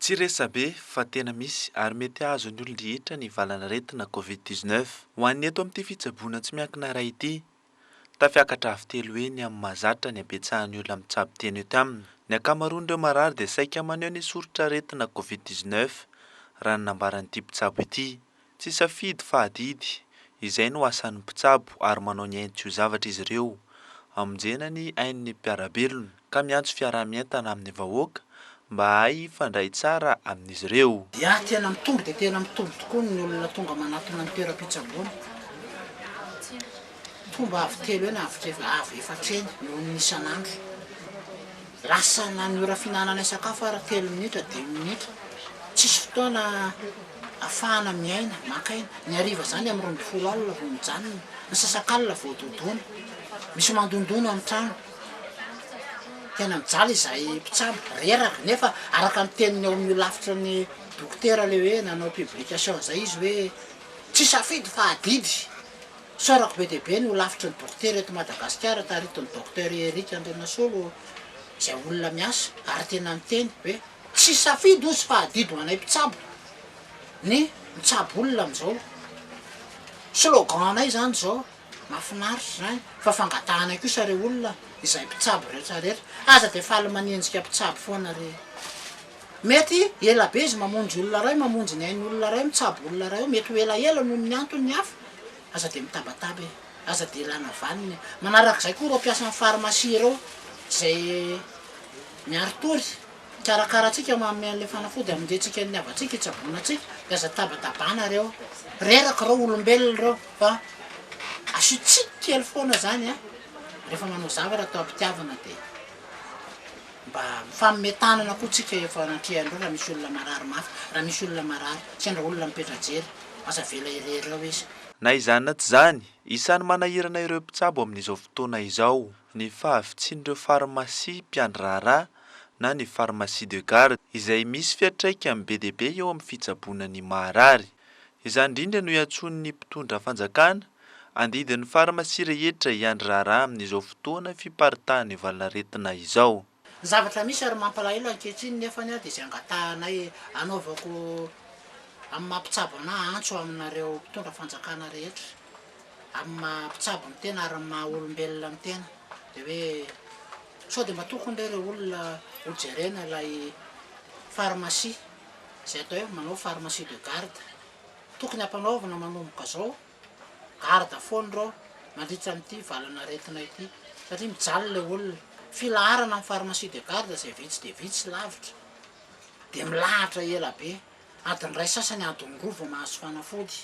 Tsy resabe fa tena misy ary mety hahazo ny olon-drehetra ny valan'aretina Covid dix neuf. Ho an'ny eto amin'ity fitsaboana tsy miankina iray ity, tafiakatra avo telo heny amin'ny mahazatra ny habetsahan'ny olona mitsabo tena eto aminy. Ny ankamaroan'ireo marary dia saika maneho ny soritr'aretina Covid dix neuf, raha ny nambaran'ity mpitsabo ity. Tsy safidy fa adidy, izay no asan'ny mpitsabo ary manao ny ainy tsy ho zavatra izy ireo. Amonjena ny ain'ny mpiara-belona ka miantso fiaraha-mientana amin'ny vahoaka mba hahay hifandray tsara amin'izy ireo. Dia tena mitombo dia tena mitombo tokoa ny olona tonga manatona ny toeram-pitsaboana. Tonga avo telo eny, avo tre- avo efatra eny eo amin'ny isan'andro. Lasa na ny ora fihinananay sakafo ary telo minitra, dimy minitra. Tsisy fotoana ahafahana miaina, maka aina. Ny hariva izany amin'ny roa ambin'ny folo alina vao mijanona, ny sasakalina vao dodona. Misy mandondona amin'ny trano. Tena mijaly izahay mpitsabo, reraka. Nefa araka ny teniny ao amin'ny holafitry ny dokotera ilay hoe nanao publication izay izy hoe tsy safidy fa adidy. Tsaroako be dia be ny holafitry ny dokotera eto Madagasikara taritin'ny Docteur Eric Andrianasolo izay olona miasa ary tena niteny hoe tsy safidy hozy fa adidy ho anay mpitsabo ny mitsabo olona amin'izao slogan-nay izany izao mahafinaritra izany fa fangatahanay kosa ry olona izay mpitsabo rehetra rehetra aza dia faly manenjika mpitsabo foana ry Mety ela be izy mamonjy olona iray, mamonjy ny ain'olona iray, mitsabo olona iray eo, mety ho elaela noho ny antony hafa, aza dia mitabataba e, aza dia ilana vaniny e. Manarak'izay koa ireo mpiasan'ny pharmacie ireo izay miaritory, mikarakara antsika, manome an'ilay fanafody hamonjentsika ny havantsika, hitsaboana antsika, dia aza tabatabana re ô. Reraka ireo olombelona ireo fa asio tsiky kely foana izany a, rehefa manao zavatra atao am-pitiavana dia. Mba mifanome tanana koa tsika efa anatrehan'ireo raha misy olona marary mafy, raha misy olona marary, sendra olona mipetra jery, aza avela irery eo izy. Na izany na tsy izany, isan'ny manahirana ireo mpitsabo amin'izao fotoana izao ny fahavitsian'ireo farmasia mpiandry raharaha na ny pharmacie de garde izay misy fiantraikany be dia be eo amin'ny fitsaboana ny maharary. Izany indrindra no iantsoan'ny mpitondra fanjakana, andidin'ny farmasia rehetra hiandry raharaha amin'izao fotoana fiparitahan'ny valanaretina izao. Ny zavatra misy ary mampalahelo ankehitriny nefa dia izay angatahanay anaovako amin'ny maha mpitsabo anah antso aminareo mpitondra fanjakana rehetra amin'ny maha mpitsabo ny tena ary ny maha olombelona ny tena dia hoe sao dia mba tokony re ireo olona ho jerena ilay farmasia izay atao hoe manao pharmacie de garde. Tokony hampanaovina manomboka izao garde foana ireo mandritra amin'ity valan'aretina ity satria mijaly ilay olona. Filaharana amin'ny pharmacie de garde izay vitsy dia vitsy lavitra dia milahatra ela be, adiny iray sasany adiny roa vao mahazo fanafody.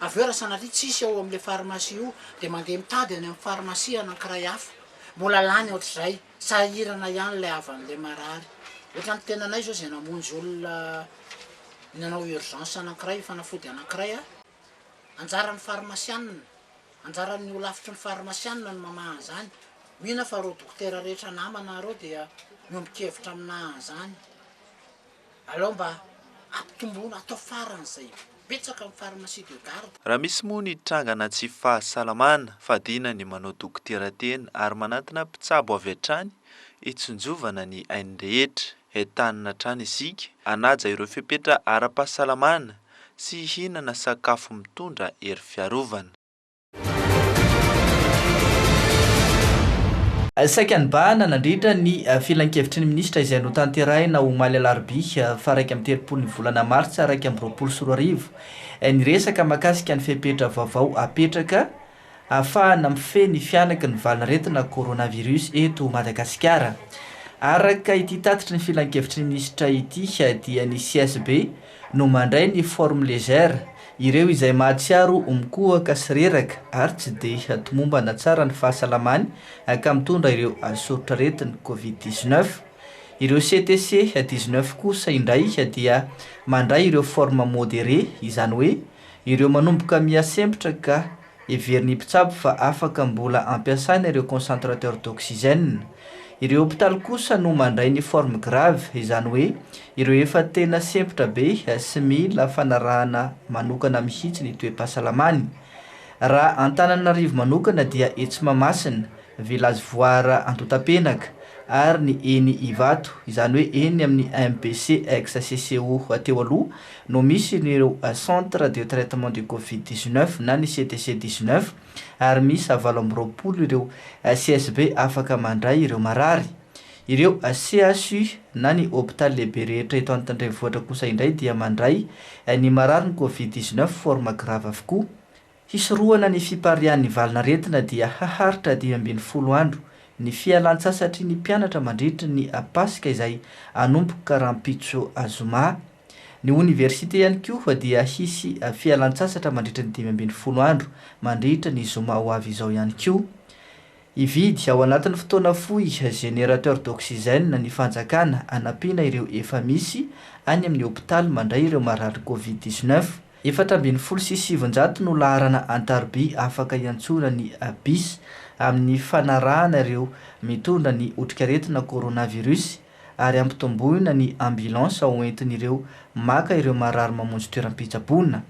Avy eo raha sanatria tsisy ao amin'ilay pharmacie io dia mandeha mitady any amin'ny pharmacie anankiray hafa, mbola lany ohatr'izay. Sahirana ihany ilay havan'ilay marary. Ohatra ny tenanay izao izay namonjy olona nanao urgence anankiray io fanafody anankiray a, anjaran'ny farmasianina, anjaran'ny holafitry ny farmasianina ny mamaha an'izany. Mino aho fa ireo dokotera rehetra namana ireo dia miombon-kevitra aminà an'izany. Alao mba ampitomboina atao faran'izay betsaka ny pharmacie de garde. Raha misy moa ny trangana tsy fahasalamana, fadiana ny manao dokotera tena ary manantona mpitsabo avy hatrany hitsinjovana ny ain'ny rehetra. Entanina hatrany isika hanaja ireo fepetra ara-pahasalamana sy hihinana sakafo mitondra hery fiarovana. Saika nibahana nandritra ny filankevitry ny minisitra izay notanterahina omaly alarobia faha iraika amby telopolo ny volana martsa iraika amby roapolo sy roa arivo ny resaka mahakasika ny fepetra vaovao apetraka ahafahana mifehy ny fianaky ny valin'aretina coronavirus eto Madagasikara. Araka ity tatitry ny filankevitry ny minisitra ity dia ny CSB no mandray ny forme légère, ireo izay mahatsiaro ho mikohaka sy reraka ary tsy dia tomombana tsara ny fahasalamany ka mitondra ireo soritr'aretin'ny covid dix neuf. Ireo CTC dix neuf kosa indray dia mandray ireo forme modérée, izany hoe ireo manomboka miha-sempotra ka Heverin'ny mpitsabo fa afaka mbola ampiasaina ireo concentrateur d'oxygène. Ireo hopitaly kosa no mandray ny forme grave, izany hoe ireo efa tena sempotra be sy mila fanarahana manokana mihitsy ny toe-pahasalamany. Raha Antananarivo manokana dia etsy Mahamasina, Village Voire Antontapenaka ary ny eny Ivato, izany hoe eny amin'ny MBC ex-CCO teo aloha no misy ireo Centre de Traitement du Covid dix neuf na ny CTC dix neuf ary miisa valo amby roapolo ireo CSB afaka mandray ireo marary. Ireo CHU na ny Hopitaly lehibe rehetra eto Antandrenivohitra kosa indray dia mandray ny mararin'ny Covid dix neuf forme grave avokoa. Hisorohana ny fipariahan'ny valin'aretina dia haharitra dimy ambin'ny folo andro ny fialantsasatry ny mpianatra mandritra ny Paska izay hanomboka rahampitso zoma. Ny oniversite ihany koa dia hisy fialantsasatra mandritra ny dimy ambin'ny folo andro mandritra ny zoma ho avy izao ihany koa. Hividy, ao anatin'ny fotoana fohy, générateur d'oxygène ny fanjakana hanampiana ireo efa misy any amin'ny hopitaly mandray ireo marary Covid dix neuf. Efatra ambin'ny folo sy sivinjato no laharana an-taroby afaka iantsoran'ny bis amin'ny fanarahana ireo mitondra ny otrikaretina coronavirus ary ampitomboina ny ambulance ho entin'ireo maka ireo marary mamonjy toeram-pitsaboana.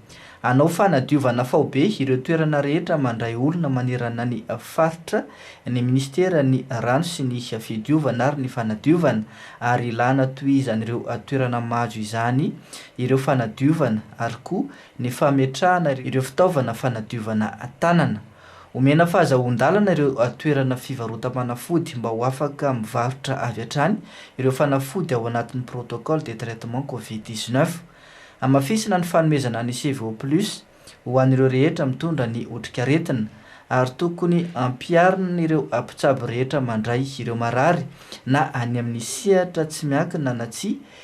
Hanao fanadiovana faobe ireo toerana rehetra mandray olona manerana ny faritra ny minisiteran'ny Rano sy ny fidiovana ary ny fanadiovana ary ilàna tohizan'ireo toerana majo izany ireo fanadiovana ary koa ny fametrahana ireo fitaovana fanadiovana tanana Omena fahazahoan-dalana ireo toerana fivarotam-panafody mba ho afaka mivarotra avy hatrany ireo fanafody ao anatin'ny protocole de traitement covid dix neuf. Hamafisina ny fanomezana ny CVO plus ho an'ireo rehetra mitondra ny otrikaretina ary tokony hampiharin'ireo mpitsabo rehetra mandray ireo marary na any amin'ny sehatra tsy miankina na tsia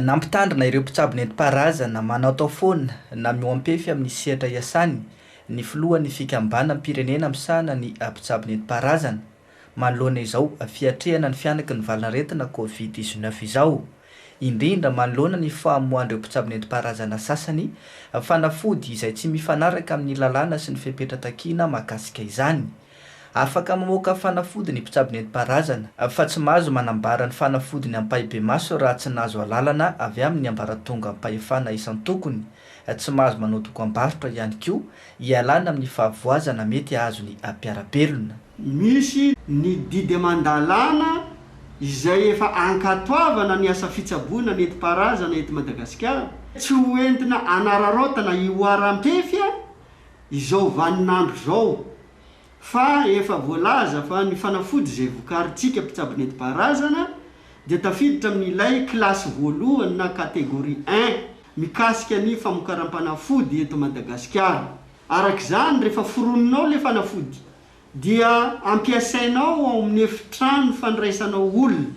Nampitandrina ireo mpitsabo nentim-paharazana manaotao foana na mihoam-pefy amin'ny sehatra iasany ny filohan'ny fikambanam-pirenena misahana ny mpitsabo nentim-paharazana, manoloana izao fiatrehana ny fihanaky ny valan'aretina Covid dix-neuf izao, indrindra manoloana ny famoahan'ireo mpitsabo nentim-paharazana sasany fanafody izay tsy mifanaraka amin'ny lalàna sy ny fepetra takiana mahakasika izany. Afaka mamoaka fanafody ny mpitsabo nentim-paharazana, fa tsy mahazo manambara ny fanafodiny ampahibemaso raha tsy nahazo alalana avy amin'ny ambaratongam-pahefana isan-tokony, tsy mahazo manao dokambarotra ihany koa hialana amin'ny fahavoazana mety hahazo ny mpiara-belona. Misy ny didy aman-dalàna izay efa ankatoavana ny asa fitsaboana nentim-paharazana eto Madagasikara. Tsy ho entina anararaotana hihoaram-pefy izao vanin'andro izao fa efa voalaza fa ny fanafody izay vokarintsika mpitsabo nentim-paharazana dia tafiditra amin'ilay kilasy voalohany na catégorie un mikasika ny famokaram-panafody eto Madagasikara. Araka izany, rehefa foroninao ilay fanafody dia ampiasainao ao amin'ny efitrano fandraisanao olona,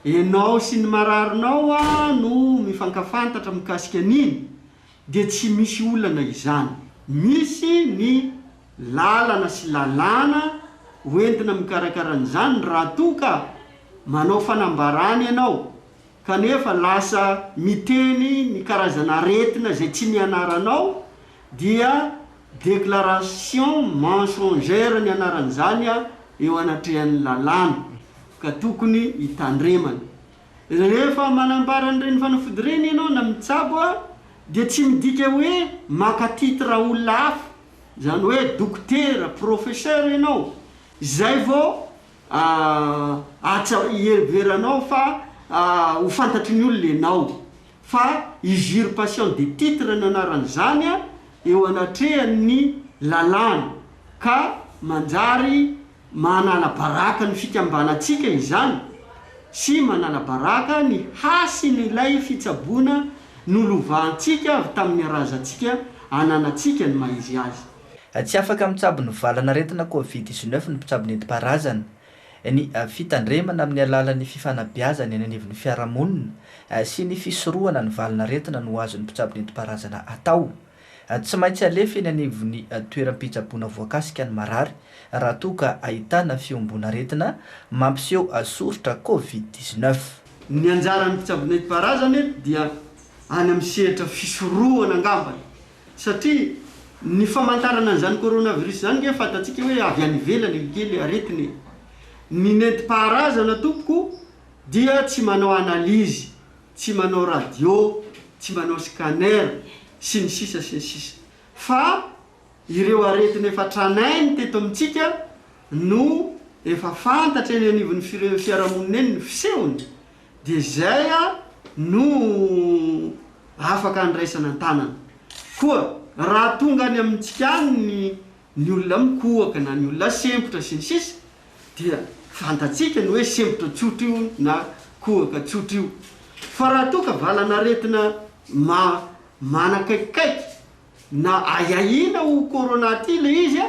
ianao sy ny mararinao no mifankafantatra mikasika an'iny, dia tsy misy olana izany. Misy ny lalana sy lalàna hoentina mikarakara an'izany raha toa ka manao fanambarana ianao kanefa lasa miteny ny karazana aretina izay tsy nianaranao dia déclaration mensongère ny anaran'izany eo anatrehan'ny lalàna ka tokony hitandremana. Rehefa manambara an'ireny fanafody ireny ianao na mitsabo dia tsy midika hoe maka titre olona hafa, izany hoe dokotera, professeur ianao, izay vao atsa iheveranao fa ho fantatry ny olona ianao, fa usurpation de titre ny anaran'izany eo anatrehan'ny lalàna ka manjary Manala baraka ny fikambanantsika izany sy manala baraka ny hasin'ilay fitsaboana nolovahantsika avy tamin'ny razantsika ananantsika ny maha-izy azy. Tsy afaka mitsabo ny valan'aretina Covid dix-neuf ny mpitsabo nentim-paharazana. Ny fitandremana amin'ny alalan'ny fifanabeazana eny anivon'ny fiarahamonina sy ny fisorohana ny valan'aretina no azon'ny mpitsabo nentim-paharazana atao. Tsy maintsy alefa eny anivon'ny toeram-pitsaboana voakasika ny marary raha toa ka ahitana fihomboan'aretina mampiseho soritra Covid dix neuf. Ny anjaran'ny mpitsabo nentim-paharazana eto dia any amin'ny sehatra fisorohana angambany satria ny famantarana an'izany coronavirus izany nge fantatsika hoe avy any ivelany io kely aretina e! Ny nentim-paharazana tompoko dia tsy manao analyse tsy manao radio, tsy manao scanner, sy ny sisa sy ny sisa. Fa ireo aretina efa tranainy teto amintsika no efa fantatra eny anivon'ny fire- fiarahamonina eny ny fisehony, dia izay no afaka andraisana an-tanana. Koa raha tonga any amintsika any ny ny olona mikohaka na ny olona sempotra sy ny sisa dia fantatsika ny hoe sempotra tsotra io na kohaka tsotra io fa raha toa ka valan'aretina manakaikikaiky na ahiahiana ho corona ity ilay izy a,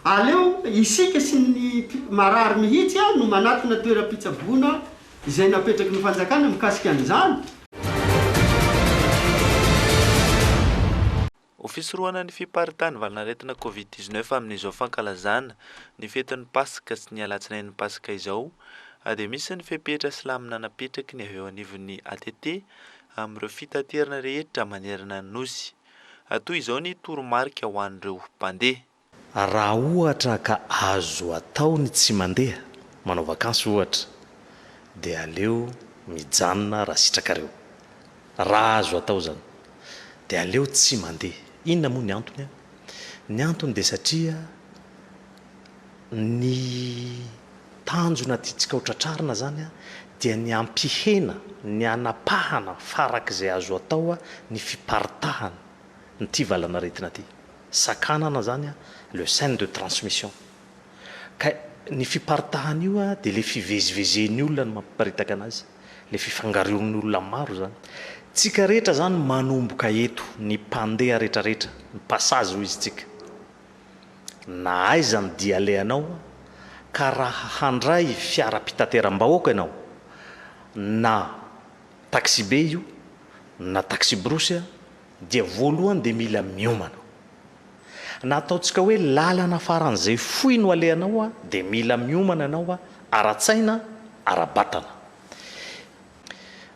aleo isika sy ny marary mihitsy a no manatona toeram-pitsaboana izay napetraky ny fanjakana mikasika an'izany. Ho fisorohana ny fiparitahan'ny valan'aretina Covid dix neuf amin'izao fankalazana ny fetin'ny Paska sy ny alatsinain'ny Paska izao dia misy ny fepetra silamo nanapetraky ny avy eo anivon'ny ATT amin'ireo fitaterana rehetra manerana ny Nosy. Toy izao ny toromarika ho an'ireo mpandeha. Raha ohatra ka azo atao ny tsy mandeha, manao vakansy ohatra, dia aleo mijanona raha sitrakareo. Raha azo atao izany, dia aleo tsy mandeha. Inona moa ny antony an? Ny antony dia satria ny tanjona tiantsika ho tratrarina izany dia ny hampihena, ny hanapahana farak'izay azo atao ny fiparitahan' ity valanaretina ity. Sakanana zany a, le chaine de transmission. Ka ny fiparitahany io a, de le fivezivezen'ny olona no mampiparitaka anazy, le fifangaroan'ny olona maro zany. Tsika rehetra zany manomboka eto, ny mpandeha retraretra, ny passage hoy izy tsika. Na aiza ny dia alehanao a, ka raha handray fiaram-pitateram-bahoaka ianao, na taxi-be io, na taxi-brousse a, dia voalohany dia mila miomana. Na ataontsika hoe lalana faran'izay fohy no alehanao an, dia mila miomana ianao ara-tsaina, ara-batana.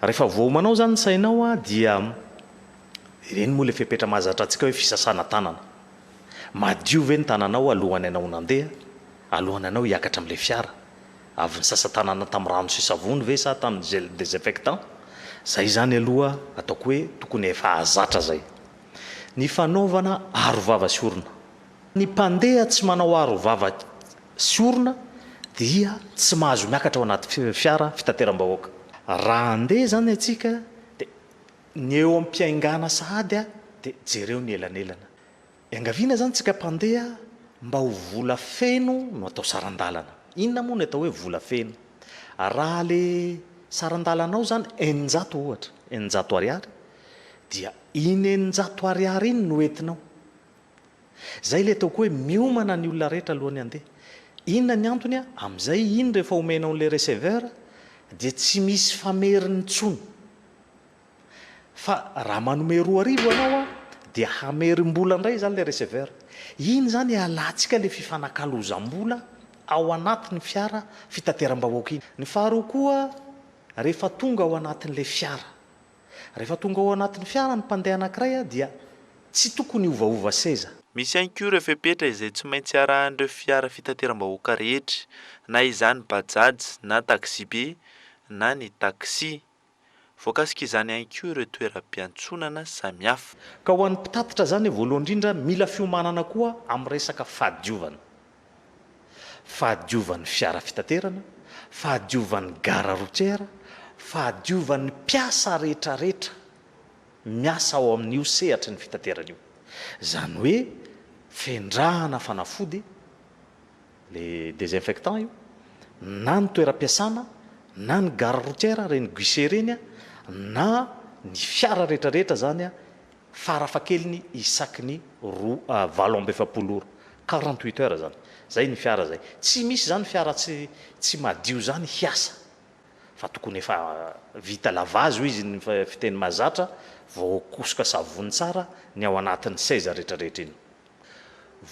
Rehefa voaomanao izany ny sainao an, dia ireny moa ilay fepetra mahazatra antsika hoe fisasana tanana. Madio ve ny tananao alohan'ianao nandeha, alohan'ianao hiakatra amin'ilay fiara? Avy nisasa tanana tamin'ny rano sy savony ve sa tamin'ny gel désinfectant? Zay zany aloha ataoko hoe tokony efa zatra zay. Ny fanaovana aro vava sy orona. Ny mpandeha tsy manao aro vava sy orona dia tsy mahazo miakatra ao anaty fiara fitateram-bahoaka. Raha handeha zany atsika dia ny eo am-piaingana sahady dia jereo ny elanelana. Iangaviana izany tsika mpandeha mba ho vola feno no atao saran-dalana. Inona moa ny atao hoe vola feno? Raha le saran-dalanao izany eninjato ohatra, eninjato ariary, dia iny eninjato ariary iny no entinao. Izay le ataoko hoe miomana ny olona rehetra alohan'ny handeha. Inona ny antony a? Amin'izay iny rehefa omenao an'ilay receveur dia tsy misy fameriny intsony. Fa raha manome roa arivo ianao a dia hamerim-bola indray izany ilay receveur. Iny izany ialatsika ilay fifanakalozam-bola ao anatin'ny fiara fitateram-bahoaka iny. Ny faharoa koa, rehefa tonga ao anatin'ilay fiara. Rehefa tonga ao anatin'ny fiara ny mpandeha anankiray a dia tsy tokony hiovaova seza. Misy ihany koa ireo fepetra izay tsy maintsy arahan'ireo fiara fitateram-bahoaka rehetra, na izany Bajaj na taxi-be na ny taxi. Voakasik'izany ihany koa ireo toeram-piantsonana samihafa. Ka ho an'ny mpitatitra izany, voalohany indrindra, mila fiomanana koa amin'ny resaka fahadiovana. Fahadiovan'ny fiara fitaterana, fahadiovan'ny gare routière, fahadiovan'ny mpiasa rehetrarehetra miasa ao amin'io sehatry ny fitaterana io. Izany hoe, fendrahana fanafody. le desinfectant io, na ny toeram-piasana, na ny gare routière ireny guichet ireny, na ny fiara rehetra rehetra izany farafahakeliny isaky ny roa valo amby efapolo ora, quarante huit heures izany, izay ny fiara izay, tsy misy izany fiara tsy tsy madio izany hiasa fa tokony efa vita lavage hoy izy ny fiteny mahazatra, voakosoka savony tsara ny ao anatin'ny seza rehetra rehetra iny.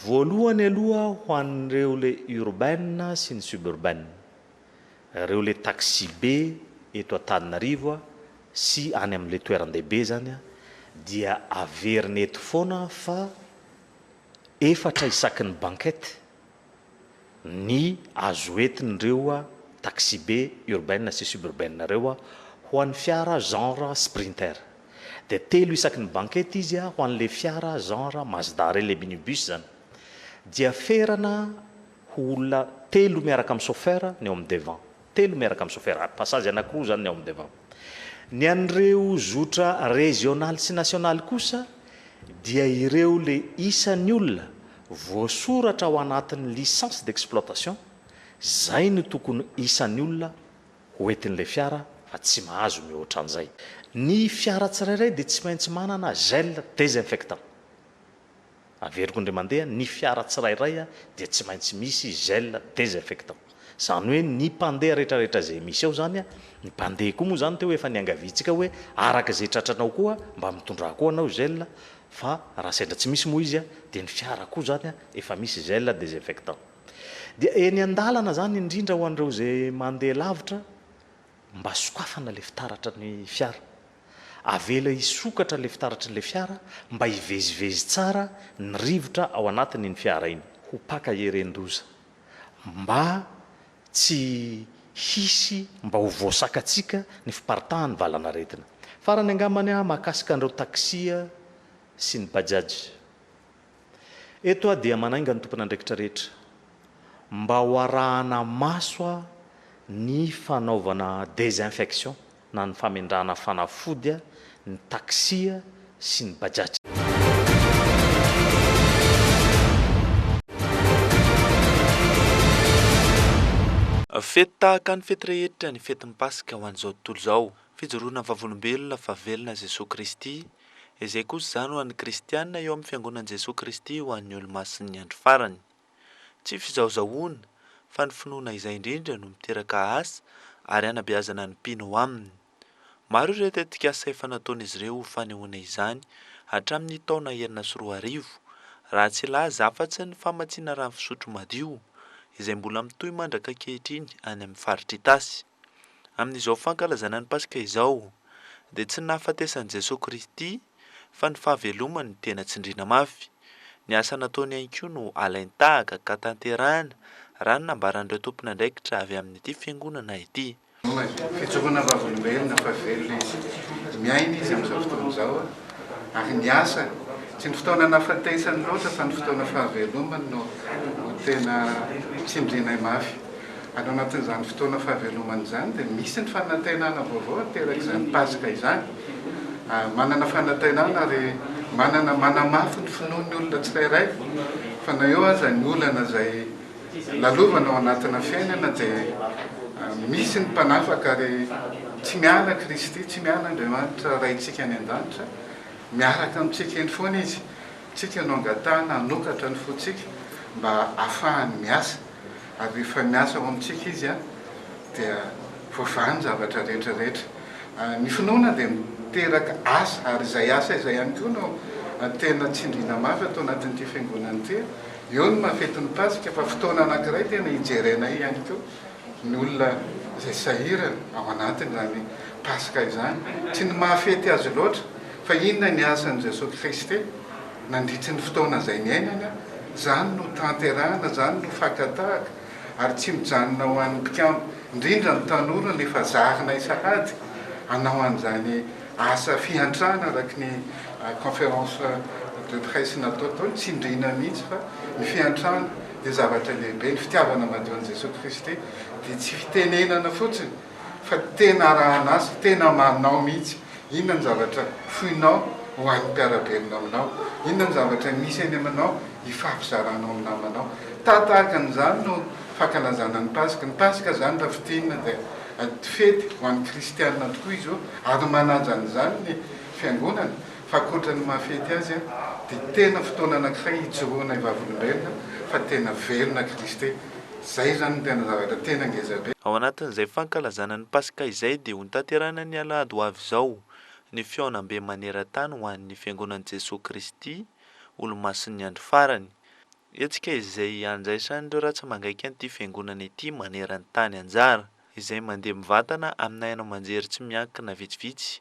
Voalohany aloha ho an'ireo le urbain sy ny suburbain, ireo le taxi-be eto Antananarivo sy any amin'le toeran-dehibe zany dia averina eto foana fa efatra isaky ny banquette, ny azo entin'ireo taxibe urbaine sy suburbaine ireo ho an'ny fiara genre Sprinter. Dia telo isaky ny banquette izy ho an'ilay fiara genre Mazda ireny, ilay minibus izany. Dia ferana ho olona telo miaraka amin'ny chauffeur ny ao amin'ny devant. Telo miaraka amin'ny sofera ary pasazy anankiroa izany ny ao amin'ny devant. Ny an'ireo zotra rezionaly sy nasionaly kosa dia ireo le isan'ny olona voasoratra ao anatin'ny licence d'exploitation izay no tokony isan'ny olona ho entin'ilay fiara fa tsy mahazo mihoatra an'izay. Ny fiara tsirairay dia tsy maintsy manana gel désinfectant. Averiko indray mandeha, ny fiara tsirairay dia tsy maintsy misy gel désinfectant. Izany hoe ny mpandeha retraretra izay misy ao izany, ny mpandeha koa moa izany teo efa niangaviantsika hoe araka izay tratranao koa mba mitondrà koa anao gel fa raha sendra tsy misy moa izy dia ny fiara koa izany efa misy gel désinfectant. Dia eny an-dalana izany indrindra ho an'ireo izay mandeha lavitra, Mba sokafana ilay fitaratra ny fiara. Avela hisokatra ilay fitaratry ilay fiara mba hivezivezy tsara ny rivotra ao anatiny iny fiara iny. Ho paka heren-doza. Mba tsy hisy mba ho voasakatsika ny fiparitahan'ny valan'aretina. Farany angambany mahakasika an'ireo taxi sy ny bajaj. Eto aho dia manainga ny tompon'andraikitra rehetra mba ho arahana maso aho ny fanaovana desinfection na ny famendrahana fanafody ny taxi sy ny bajaj. Fety tahaka ny fety rehetra ny fetin'ny Paska ho an'izao tontolo izao. Fijoroana vavolombelona fa velona Jesoa Kristy Izay kosa izany ho an'ny kristiana eo amin'ny Fiangonan'i Jesoa Kristy ho an'ny Olomasin'ny Andro Farany. Tsy fizahozahoana, fa ny finoana izay indrindra no miteraka asa ary hanabeazana ny mpino ao aminy. Maro ireo tetikasa efa nataon'izy ireo ho fanehoana izany hatramin'ny taona enina sy roa arivo, raha tsy hilaza afa-tsy ny famatsiana rano fisotro madio, izay mbola mitohy mandrak'ankehitriny any amin'ny faritr'Itasy. Amin'izao fankalazana ny Paska izao dia tsy ny nahafatesan'i Jesoa Kristy fa ny fahavelomany no tena tsindriana mafy. Ny asa nataony ihany koa no alain-tahaka ka tanterahina raha ny nambaran'ireo tompon'andraikitra avy amin'ity Fiangonana ity. Fitsofohana vavolombelona fa velona izy, miaina izy amin'izao fotoana izao ary ny asa, tsy ny fotoana nahafatesany loatra fa ny fotoana fahavelomany no tena tsindrianay mafy. Any anatin'izany fotoana fahavelomana izany dia misy ny fanantenana vaovao aterak'izany Paska izany. Manana fanantenana ary manana manamafy ny finoany ny olona tsirairay fa na eo aza ny olana izay lalovana ao anatina fiainana dia misy ny mpanafaka ary tsy miala Kristy, tsy miala Andriamanitra Raintsika any an-danitra, miaraka amintsika eny foana Izy. Tsika no angatahana hanokatra ny fontsika mba hahafahany miasa. ary rehefa miasa ao amintsika Izy dia voavaha ny zavatra rehetra rehetra. Ny finoana dia miteraka asa ary izay asa izay ihany koa no tena tsindriana mafy ato anatin'ity fiangonana ity. Eo ny mahafety ny Paska fa fotoana anankiray tena hijerenay ihany koa ny olona izay sahirana ao anatin'izany Paska izany. Tsy ny mahafety azy loatra fa inona ny asan'i Jesoa Kristy. Nandritry ny fotoana izay niainana, izany no tanterahana, izany no fakatahaka ary tsy mijanona ho an'ny mpikambo, indrindra ny tanora no efa zarinay sahady hanao an'izany asa fiantrana araka ny conférence de presse natao tao, tsindriana mihitsy fa ny fiantrana dia zavatra lehibe, ny fitiavana madio an'i Jesoa Kristy dia tsy fitenenana fotsiny. fa tena arahan'asa, tena amanao mihitsy, inona ny zavatra foinao ho an'ny mpiara-belona aminao, inona ny zavatra misy eny aminao hifampizaranao amin'ny namanao. Tahaka tahaka an'izany no fankalazana ny Paska. Ny Paska izany raha fintinina dia fety ho an'ny kristiana tokoa izy io ary manaja an'izany ny fiangonana fa ankoatra ny maha fety azy dia tena fotoana anankiray hijoroana hivavolombelona fa tena velona Kristy. Izay izany no tena zavatra tena ngeza be. Ao anatin'izay fankalazana ny Paska izay dia hotanterahina ny alahady ho avy izao ny fihaonambe maneran-tany ho an'ny Fiangonan'i Jesoa Kristy Olomasin'ny Andro Farany, hetsika izay handraisan'ireo ratsy mangaika an'ity Fiangonana ity maneran-tany anjara, izay mandeha mivantana amina haino aman-jery tsy miankina vitsivitsy